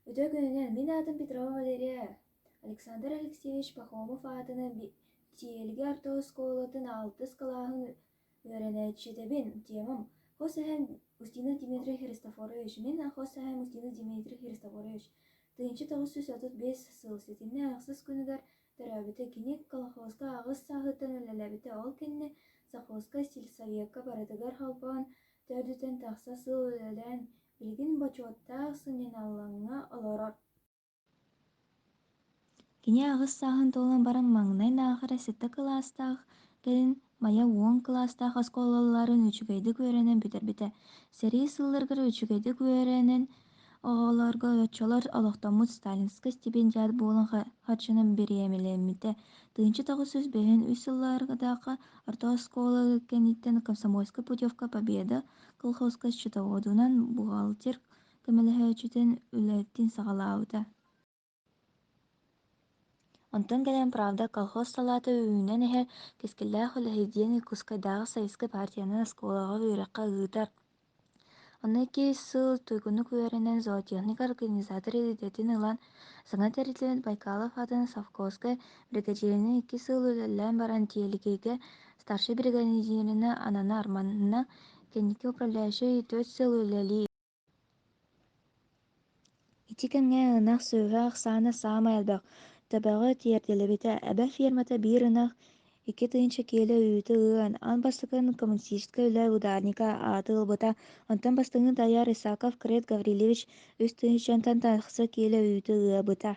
үтүө күнүнэн мин аатым петрова валерия александр алексеевич пахомов аатынан сиэлгэ орто оскуолатын алтыс кылааһын үөрэнээччитэбин темам хос эһэм устинов дмитрий христофорович мин хос эһэм устинов дмитрий христофорович тыһыынча тоҕус сүүс отут биэс сыл ситимнээх ахсыс күнүгэр төрөөбүтэ кини колхозка аҕыс сааһыттан үлэлээбитэ ол кэннэ совхозка сельсовекка барытыгар холбоон төрдүттэн тахса сыл үлэлээн Игин бочуоттаах сынньаналлаҥҥа олорор Кини аҕыс сааһын туолан баран маҥнай аахара сэттэ кылаастаах кэлин Майа уон кылаастаах оскуолаларын үчүгэйдик үөрэнэн бүтэрбитэ. Сэрии сылларыгар үчүгэйдик үөрэнэн оҕолорго оччолор олохтоммут сталинскай стипендиат буолан харчынан бириэмэлэммитэ. Тыынча тоҕус сүүс бэһин үс сылларга орто оскуола кэнниттэн комсомольскай путевка Победа колхозка счетоводунан бухгалтер көмөлөһөөччүтүн үлэтин саҕалаабыта онтон кэлэн правда колхоз салаата үүнэн иһэр кэскиллээх үлэһит диэн Иркутскайдааҕы советскай партиянан оскуолаҕа үөрэххэ ыытар онно икки сыл туйгунук үөрэнэн зоотехник организатор идэтин ылан Саҥа тэрилтэбит Байкалов аатын совхозскай биригэдьииринэн икки сыл үлэлээн баран тиэликигэ старшай биригэдьииринэ Анана Арманна, кэнники управляющай төрт сыл үлэлии Ити кэмҥэ ынах сүөһү ахсаана саамай элбэх, төбөҕө тиэрдиллибитэ, эбэ фермата биир ынах Икки тыһыынча киилэ үүтэ ыан, аан бастакытын коммунистическай үлэ ударника ааты ылбыта, онтон бастыҥы тайар Исаков Крет Гаврильевич үс тыһыынчантан тахса киилэ үүтэ ыабыта.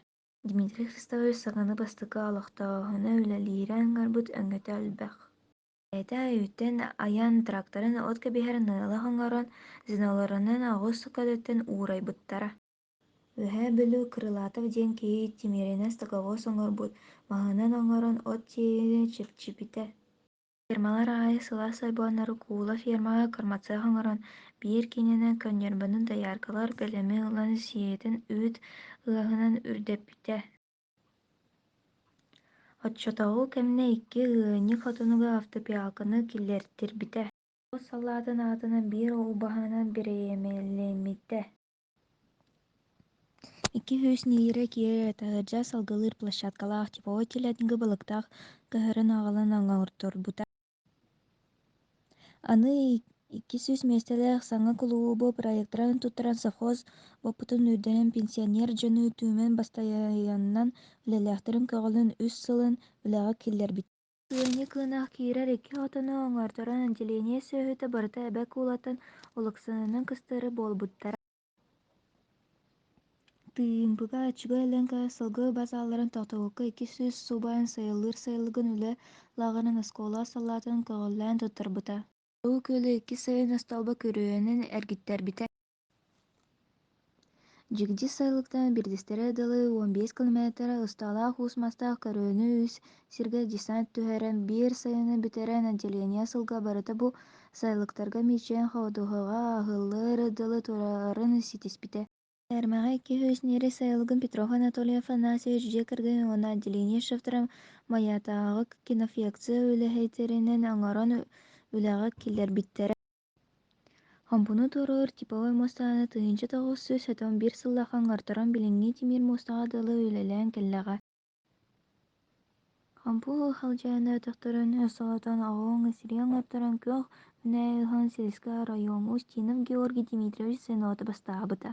Дмитрий Христович саҥаны бастакы олохтооһуну үлэлиирэн ыҥырбыт өҥөтө элбэх. Бэйэтэ үүттэн айан тракторын от кэбиһэр ныылах оҥорон, звенолорунан оҕус көтүттэн уурайбыттара. Үөһээ Бүлүү Крылатов диэн киһи тимиэринэ стоговоз оҥорбут маһынан оҥорон от тиэйиини чэпчипитэ фермалар аайы сылаас сойбоннору куула фермаҕа кырмацыах оҥорон биир киинэнэн конньорбонун дояркалар бэлэми ылан сиэйэтин үүт ыаһынан үрдэппитэ оччотооҕу кэмнэ икки ыанньык хотонуга автопиалканы киллэртирбитэ тоҕус салаатын аатынан биир ол баһынан бирэйэмэлэммитэ икки-үс нэһиилэ киирэ таһырдьа салгылыыр площадкалаах тепловой телятнига балыктаах кыһарын аҕалан оҥорторбута аны икки сүүс миэстэлээх саҥа кулуубу проекттарын туттаран совхоз уопутун үрдэнэн пенсионер дьону түмэн бастайыннан үлэлээхтэрин көҕүлүүн үс сылын үлэҕэ киллэрбиттэр Ыанньа кыынах киирэр икки хотону оҥорторон отделение сүөһүтэ барыта эбэ куулатын Олуксанынан кыстары буолбуттара Тыымпыга очугай лэҥкэ сылгы базаларын тохтобукка иккис сүүс субаан сайылыыр сайылыгын үлэ лааҕырын оскуола салаатын көҕүлээн туттарбыта. Улуу Күөлү иккис сайын остуолба күрүөнүн эргиттэрбитэ дьигдьи сайылыктан биирдистэрэ дылы уон биэс километрэ усталаах уус-мастаах көрүөнү үс сиргэ десант түһэрэн биир сайыны бүтэрэн отделение сылга барыта бу сайылыктарга мичэн ходуһаҕа аһыллар дылы турарын ситиспитэ тиэрмэҕэ иккис нири сайылыгын петров анатольев анасьевич дьиэ кэргэн уонна отделение шефтэрэ майатааҕы кинофекция үлэһиттэринэн оҥорон үлэҕэ киллэрбиттэрэ Хомпуну туоруур типовой муостаны тыһыынча тоҕус сүүс сотон биир сыллаах аҥардаран билиҥҥи тимир муостаҕа дылы үлэлээн кэллэҕэ Хампу халдьаайына өтөхтөрүн өссө отон оҕуҥ сирий аҥардаран күөх мүнээй ыһан силискэ оройуоҥу Устинов Георгий Дмитриевич звенота бастаабыта.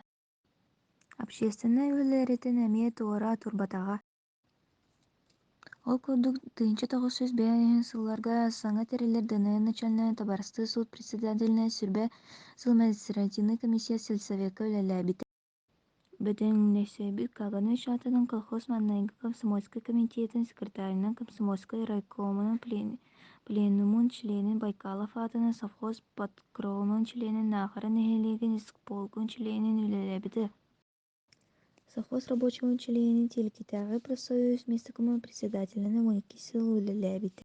Общественнай үлэлэриттэн эмиэ туора турбатаҕа ол курдук тыһыынча тоҕус сүүс бэйэн иһин сылларга саҥа тэриллэр дыниа начальнай табаарыстыы сыл председателинэ сүрбэ сыл административнай комиссия сельсовекка үлэлээбитэ бэтэринээссэбит каганыч аатынан колхоз маннайгы комсомольскай комитетин секретарынан комсомольскай райкомунун пленумун чилиэнин байкалов аатынан совхоз подкромун чилиэнин наахара нэһилиэгин исполком чилиэнин үлэлээбитэ совхоз рабочего чилиэнин тиэлкитээҕи профсоюз миэстэ-кумуһа председателинэн уон икки сыл үлэлээбитэ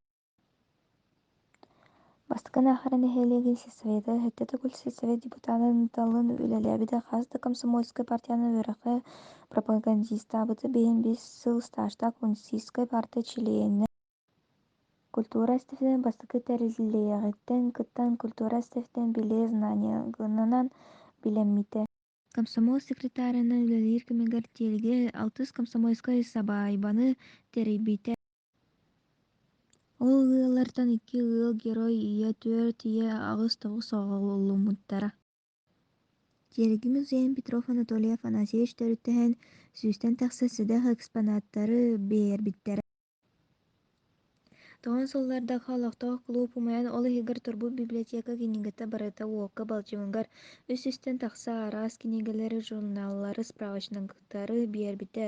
бастакы аахара нэһилиэгин сельсовета сэттэ төгүл сельсовет депутатын талын үлэлээбитэ хас да комсомольскай партияны үөрэххэ пропагандистаабыта бэйэн биэс сыл стажтаах коммунистическай партия чилиэнэ культура эстафетатын бастакы тэриллиэҕиттэн кыттан культура эстафетатын билии знаниегынан билэммитэ Комсомол секретарынан үлэлиир кэмигэр тиэлгэ алтыс комсомольскай сабаайбаны тэрийбитэ. Ол ыаллартан икки ыал герой ийэ төрт ийэ аҕыс тоҕус оҕоломмуттара. Тиэрги музейын Петров Анатолий Афанасьевич төрүттэһэн, сүүстэн тахса сэдэх экспонаттары биэрбиттэрэ. тоҕон сыллардакы олохтоох кулууп умайан ол иһигэр турбут библиотека кинигэтэ барыта уокка балчыгыгар үс-үстэн тахса араас кинигэлэри журналлары справочниктары биэрбитэ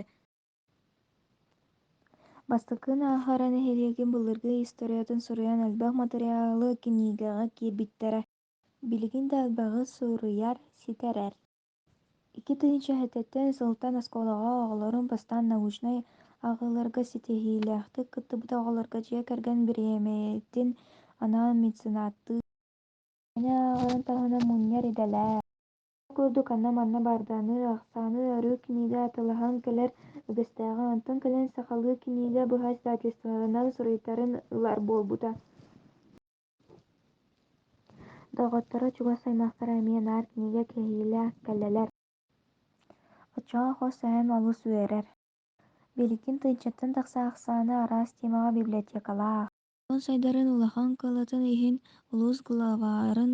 бастакынан ааһара нэһилиэгин былыргы историятын суруйан элбэх матырыйаалы кинигэҕэ киирбиттэрэ билигин да элбэҕи суруйар ситэрэр икки тыһыынча четвертэн сылтан оскуолаҕа оҕолорун бастаан научнай ааҕыыларга ситиһиилээхтик кыттыбыт оҕолорго дьиэ кэргэн бириэмэтин анаан меценаттыы мээнэ ааҕарын таһынан мунньар идэлээх ол курдук ханна-манна барданы ахсааны арыы кинигэ атылаһан кэлэр үгэстээҕэ онтон кэлэн сахалыы кинигэ быһа издательстволарынан суруйтарын ылар буолбута доҕотторо чугас аймахтара эмиэ наар кинигэ кэһиилээх кэллилэр оччоҕо хос эһэм олус үөрэр билигин тыйдьаттан тахса ахсаана араас тиэмэҕэ библиотекалаах дьон сайдарын улахан кыаллатын иһин улуус главарын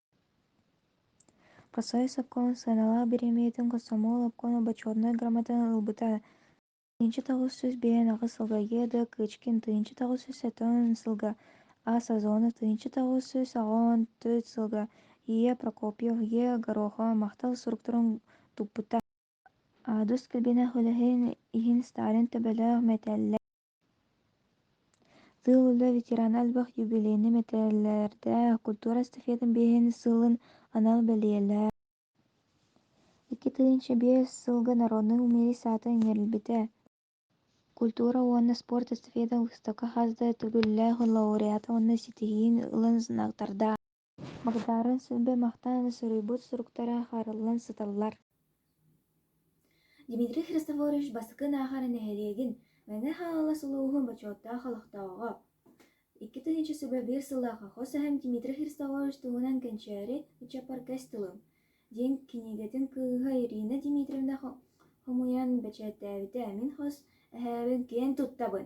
по союз обкома сыаналаах бириэмийэтин комсомол обкома бочуотунай грамотаны ылбыта тыйынча тоҕус сүүс биэрэн аҕыс сылга еда кычкин тыйынча тоҕус сүүс сөтөн сылга аса зона тыйынча тоҕус сүүс аҕыон төрт сылга ия прокопьев е горохо махтал суруктарын туппута аадыс көлбиэнэх үлэһин иһин сталин төбөлөөх мэтээллээх сыл үлэ ветерана элбэх юбилейнай мэтээллэрдээх культура эстафетатын биэһин сылын анал бэлиэлээх 2005 сылга народнай мэрия саатын иҥэрилбитэ культура уонна спорт эстафета выставка хас да төгүллээх лауреата уонна ситиһиин ылан знактардаах Магдара силбэ махтаан суруйбут суруктара хаарыллан сыталлар Дмитрий Христофорович бастакы Наахара нэһилиэгин Мэҥэ Хаҥалас улууһун бочуоттаах олохтооҕо. Икки тыһыынча сөбө биир сыллааҕы хос эһэм Дмитрий Христофорович туһунан кэнчээри ыччаппаргас тылым диэн кинигэтин кыыһа Ирина Дмитриевна хомуйан бэчээттээбитэ мин хос эһээбин киэн туттабын